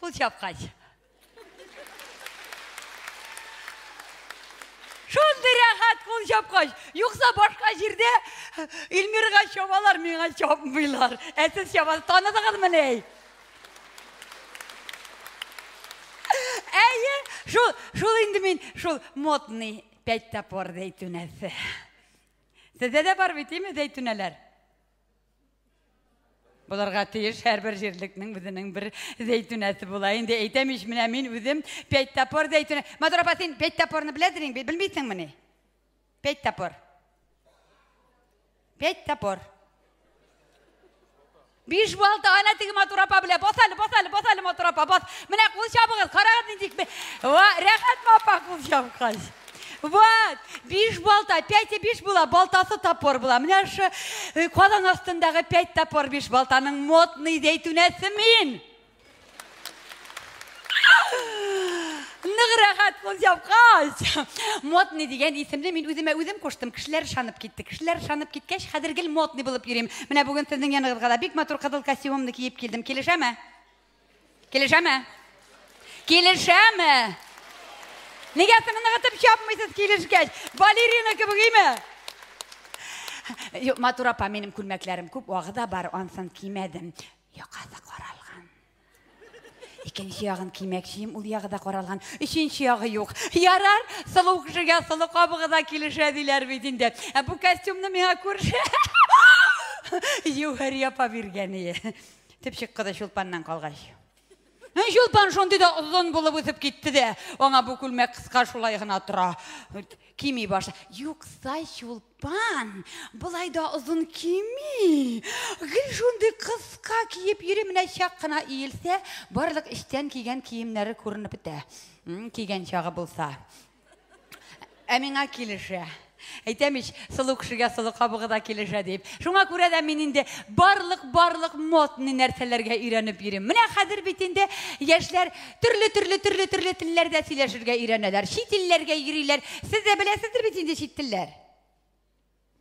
Пут япкач. Шундый рәхәт кул чапкач. Юкса башка җирдә Илмирга чабалар, миңа чапмыйлар. Ә сез чабасыз. Таныдыгызмы ни? Әйе, шул, шул инде мин, шул модный пять топор зәйтүнәсе. Сездә дә бар бит, име зәйтүнәләр? Буларга тиеш һәрбер җирлекнең үзенең бер зәйтүнәсе була. Инде әйтәм ич, менә мин үзем пять тапор зәйтүнә. Матур апа, син пять тапорны беләдер инде, белмисеңмени? Пять тапор. Пять тапор. Биш балта, ана теге матур апа белә. Бас әле, бас әле, бас әле матур апа, бас. Менә кул чабыгыз, карагыз нинди. Ва, рәхәтме апа кул чабкач? Вот, биш балта, пять и биш була, балтасы тапор була. Менә шы э, калан астындагы пять тапор биш балтаның модный зәйтүнәсе мин. Нык рәхәт кул япкач. Модный дигән исемне мин үземә үзем куштым. Кешеләр шанып китте. Кешеләр шанып киткәч, хәзер гел модный булып йөрим. Менә бүген сезнең яныгызга да бик матур кызыл костюмымны киеп килдем. Килешәме? Килешәме? Килешәме? Нигә соң ныгытып чапмыйсыз килешкәч? Балерина кебек име? Юк, матур апа, минем күлмәкләрем күп, вагы да бар, ансын кимәдем. Якасы каралган. Икенче ягын кимәкчием, ул ягы да каралган. Өченче ягы юк. Ярар, сылу кешегә сылу кабыгы да килешә диләр бит инде. Ә бу костюмны миңа күрше Югәри апа биргәне. Төпчек кызы чулпаннан калгач. Ә чулпан шундый да озын булып үсеп китте дә, аңа бу күлмәк кыска шулай гына тора. Кими башлый. Юкса чулпан болай да озын кими. Гел шундый кыска киеп йөри, менә чак кына иелсә, барлык эчтән кигән киемнәре күренеп бетә. Кигән чагы булса. Ә миңа килешә. Әйтәм ич, сылу кешегә сылу кабыгы да килешә дип. Шуңа күрә дә мин инде барлык барлык модный нәрсәләргә өйрәнеп йөрим. Менә хәзер бит инде яшьләр төрле төрле төрле төрле телләрдә сөйләшергә өйрәнәләр. Чит илләргә йөриләр. Сез дә беләсездер бит инде чит телләр.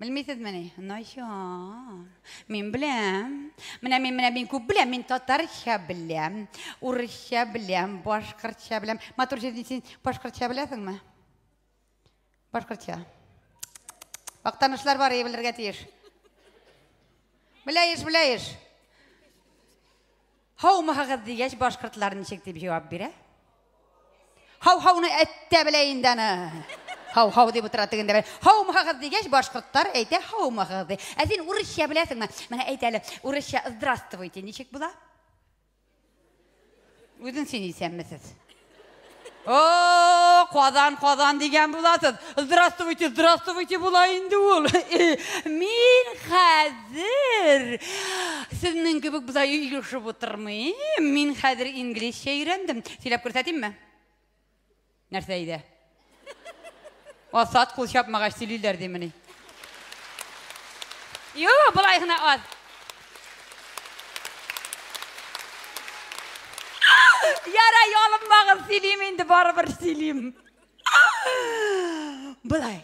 Белмисезмени? Начар. Мин беләм. Менә мин менә мин күп беләм. Мин татарча беләм, урысча беләм, башкортча беләм. Матур җирдин син башкортча беләсеңме? Башкортча. Актанышлар бар и белергә тиеш. Беләеш, беләеш. Һаумыһыгыз дигәч, башкортлар ничек дип җавап бирә? Һау-һауны әттә белә инде аны. Һау-һау дип утыра тегендә белә. Һаумыһыгыз дигәч, башкортлар әйтә һаумыһыгыз ди. Ә син урысча беләсеңме? Менә әйт әле, урысча здравствуйте ничек була? Үзен син исәнмесез. О, Казан, Казан дигән буласыз. Здравствуйте, здравствуйте була инде ул. Мин хәзер сезнең кебек буда илешеп утырмыйм. Мин хәзер инглизчә өйрәндем. Сөйләп күрсәтимме? Нәрсә иде? Асад кул чапмагач сөйлиләр димени? Юк, болай гына аз. Яра ялынмагыз, сөйлим инде, барыбер сөйлим. Болай.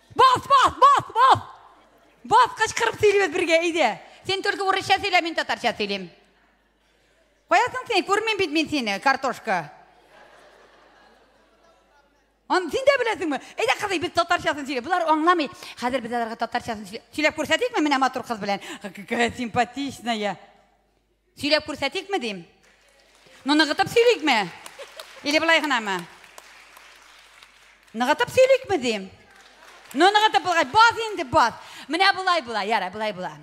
Бас, бас, бас, бас! Бас, кычкырып сөйлибез бергә, әйдә. Син только урысча сөйлә, мин татарча сөйлим. Каясың син? Күрмим бит мин сине, картошка. Ан син дә беләсеңме? Әйдә кызый, без татарчасын сөйлә. Булар аңламый. Хәзер без аларга татарчасын сөйлә. Сөйләп күрсәтикме менә матур кыз белән? Какая симпатичная. Сөйләп күрсәтикме дим? Ну, ныгытып сөйликме? Или былай гынамы? Ныгытып сөйликме дим? Ну, ныгытып булгач, баз инде, баз. Менә болай була, яра, болай була.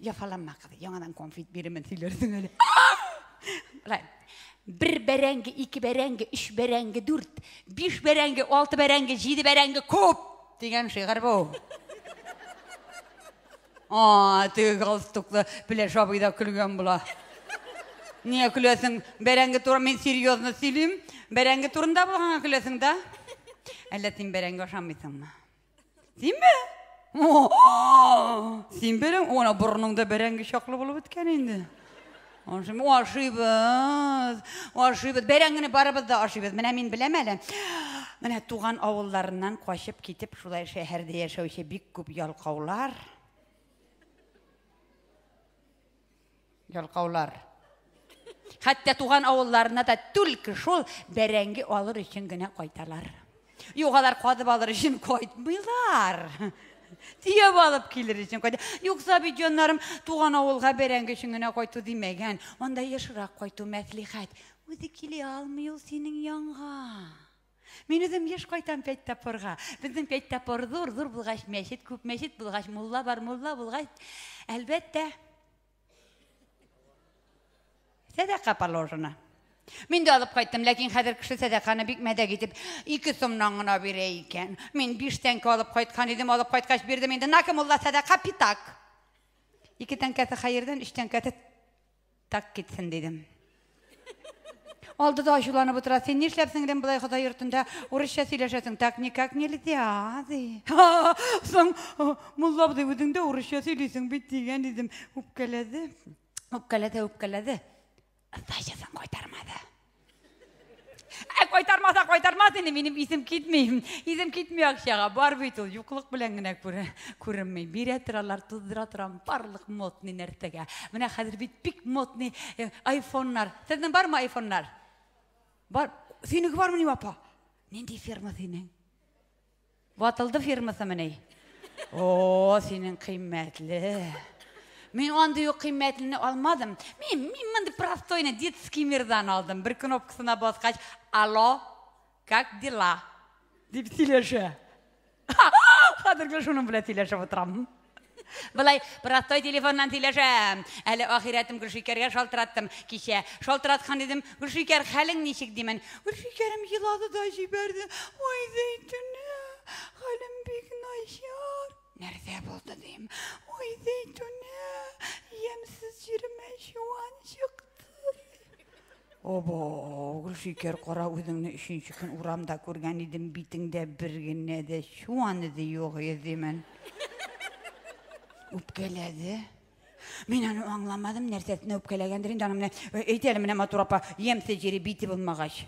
Яфаланма, кыз, яңадан конфет бирімен сөйләрсең әле. Рай. Бер бәрәңге, ике бәрәңге, үч бәрәңге, дүрт, биш бәрәңге, алты бәрәңге, җиде бәрәңге, күп! Дигән шигырь бу. А, теге галстуклы Пеләш абый да көлгән була. Нигә көләсең? Бәрәңге туры мин серьезно сөйлим. Бәрәңге турында булганга көләсең да? Әллә син бәрәңге ашамыйсыңмы? Синме? Син бәрәң, ана борыныңда бәрәңге чаклы булып беткән инде. Ашыйм, ашыйбыз, ашыйбыз. Бәйрәм генә барыбыз да ашыйбыз. Менә мин беләм әле. Менә туган авылларыннан качып китеп, шулай шәһәрдә яшәүче бик күп ялкаулар. Ялкаулар. Хәтта туган авылларына да түлке шул бәрәңге алыр өчен генә кайталар. Юк, алар кадып алыр өчен кайтмыйлар. Тияп алып килер өчен кайта. Юкса бит җаннарым туган авылга бәрәңге өчен генә кайту димәгән. Анда ешрак кайту мәслихәт. Үзе килә алмый ул синең янга. Мин үзем еш кайтам пять тапорга. Безнең пять тапор зур, зур булгач мәчет, күп мәчет булгач мулла бар, мулла булгач әлбәттә Сәдәка положено. Мин дә алып кайттым, ләкин хәзер кеше сәдәканы бик мәдәк итеп, ике сумнан гына бирә икән. Мин биш тәңкә алып кайткан идем, алып кайткач бирдем инде. Наки мулла сәдәка питак. Ике тәңкәсе хәердән, өч тәңкәсе так китсен дидем. Алды да ачуланып утыра. Син нишләп сеңлем болай Ходай йортында урысча сөйләшәсең? Так никак нельзя, ди. Соң мулла абзый үзең дә урысча сөйлисең бит дигән идем. Үпкәләде. Үпкәләде, үпкәләде. Сдачасын кайтармады. Ә кайтармаса кайтармас инде, минем исем китми. Исем китми акчага. Бар бит ул, юклык белән генә күренми. Бирә торалар, туздыра торам, барлык модный нәрсәгә. Менә хәзер бит бик модный э, айфоннар. Сезнең бармы айфоннар? Бар. Синең бармы ни апа? Нинди ферма синең? Ватылды фирмасымыни? О, синең кыйммәтле. Мин андый ук кыйммәтлене алмадым. Мин, мин мондый простойны детский мирдан алдым. Бер кнопкасына баскач, алло, как дела? Дип сөйләшә. Хәзерге шуның белән сөйләшеп утырам. Былай, простой телефоннан сөйләшәм. Әле ахирәтем Гөлшикәргә шалтыраттым кичә. Шалтыраткан идем, Гөлшикәр, хәлең ничек димен. Гөлшикәрем елады да җибәрде. Ой, Зәйтүнә, хәлем бик начар. Нәрсә булды дим. Ой, Зәйтүнә, ямьсез җиремә чуан чыкты. Обо, Гөлшикәр, кара үзеңне өченче көн урамда күргән идем, битеңдә бер генә дә чуан эзе юк иде мен. Үпкәләде. Мин аны аңламадым, нәрсәсенә үпкәләгәндер инде, аны менә әйтә әле менә матур апа, ямьсез җире бите булмагач.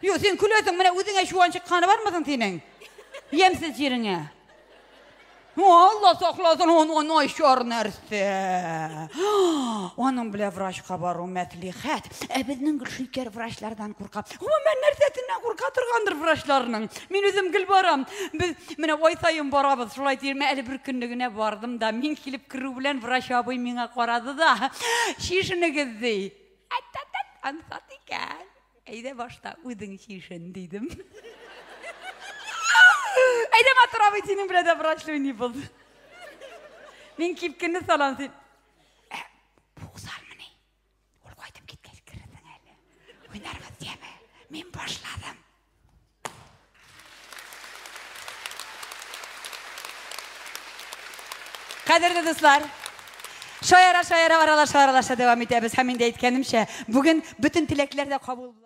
Юк, син көләсең, менә үзеңә чуан чыкканы бармы соң синең? Ямсыз җиреңә. Алла сакласын, он он айшор нәрсә. Аның белән врачка бару мәслихәт. Ә безнең Гөлшикәр врачлардан курка. Гомумән нәрсәсеннән курка торгандыр врачларның. Мин үзем гел барам. Без менә ай саен барабыз. Шулай диерме, әле бер көнне генә бардым да, мин килеп керү белән врач абый миңа карады да, чишенегез ди. Әттәттәт, ансат икән. Әйдә башта үзең чишен, дидем. Әйдә матур абый, синең белән дә врачлы уйный булды. Мин кипкенне салам, син. Ә, Буксармыни? Ул кайтып киткәч керерсең әле. Уйнарбыз, дияме? Мин башладым. Кадерле дуслар, шаяра шаяра аралаша аралаша дәвам итәбез һәм инде әйткәнемчә, бүген бөтен теләкләр дә кабул була.